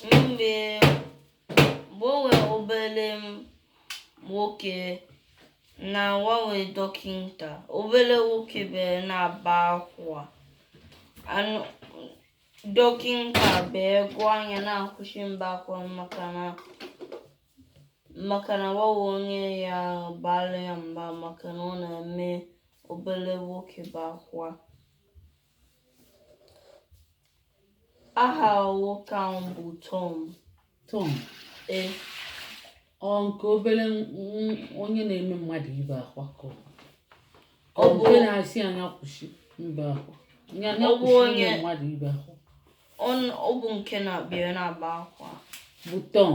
Mgbe mgbe o nwere obere nwoke na o nwere dọkịta, obere nwoke bere na-aba akwa. Anụ dọkịta bee gwa nya na-akwụsị mba akwa maka na maka na o nwere onye ya bara ya mba maka na ọ na-eme obere nwoke ba akwa. aha nwoke ahụ bụ Tom Tom ee ọ nke obere n- n- onye na-eme mmadụ ibe akwa ka ọ bụ? Ọ Ọ bụ- nke na-asị nya kwụsị ibe akwa Nya- nya Ọ bụ kwụsị ime onye- mmadụ ibe akwa ọ n- ọ bụ nke na-abịa na-aba akwa bụ Tom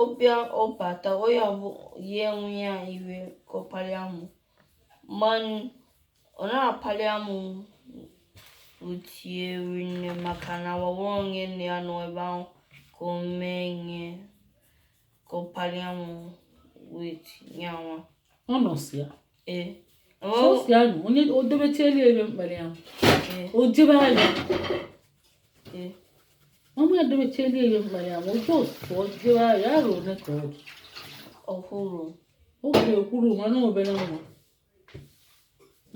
ọ bịa ọ bata onye ọbụ ya ewe ya iwe ka ọ palia amụ manụ ọ na-apali amụ otie nne maka na wawa onye nne ya nọ ebe ahụ ka o mee ihe ka ọ palia amụ with ya nwa ọ nọsị ya ee sọsị ya nụ onye o dobechiela ebe mkpara ya ee o jebe anya ee ọmụ ya dowechela ihe mma ya ma oge otu ọjọọ ahụ ya arọ ole ka ọ dị ọhụrụ oge ekwuru mana obere nwa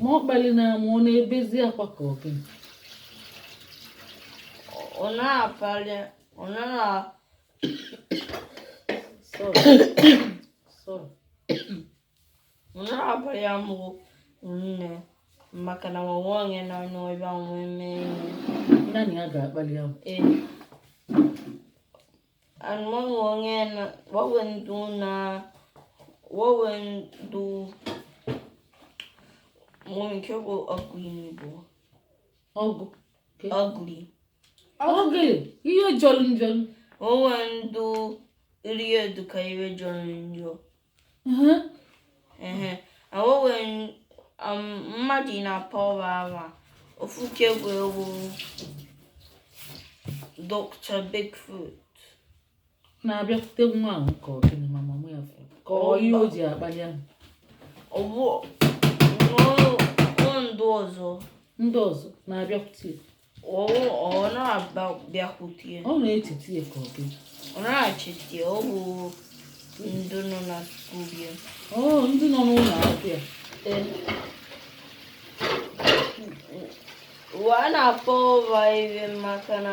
ma ọ kpali na amụ ọ na-ebezi akwa ka ọ gịnị ọ na-apali ọ naghị a- Sorry. Sorry. na-apali amụ nne maka na nwanwe onye na-anọ ebe a nwee mee naanị ya ga-akpali amụ ee anụmanụ onye na wawe ndụ na wawe ndụ mụ nke bụ ugly n'Igbo ugly ugly ugly ihe jọrọ njọ onwe ndụ iru ye dụ ka ihe jọrọ njọ awowe mmadụ na pọwa awa ofu ke wee wo Dr. Bigfoot na-abịakwute nwa ahụ ka ọ gịnị ma mama ya fụrụ ka ọ ihe o ji akpali amụ ọwụ ndụ ọzọ ndị ọzọ na-abịakwute ya. Ọ na-abịakwute ya. Ọ na-echeta ya ka ọ gịnị. Ọ na-achịta ya ọ bụ ndị nọ na skuul ya. Ọ ndị nọ n'ụlọ akwụkwọ ya. Wa na-akpọ ụwa ibe maka na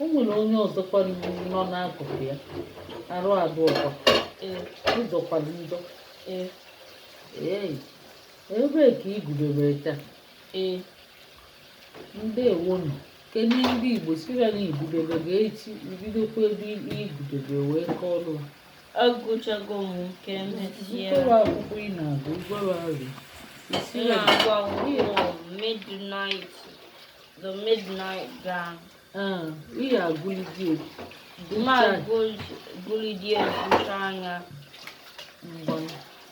o nwere onye ọzọkwa nọ n'akụkụ ya arụ adịkwa ee ọ jọkwarọ njọ ee ee ebee ka ị gụdebere taa ee ndewonụ kedu ndị igbo sịrị na ị gụdebe ga echi ị bidokwa ebe ị gụdebe wee kọọ ọrụ agụchago m nke emechie mkpụrụ akwụkwọ ị na-agụ gwara arị isi ya na-agụ akwụkwọ midnight The midnight gang. Ah, ihe a gụlụ dị egwu. Mma gụlụ dị egwu anya mgbọrọ.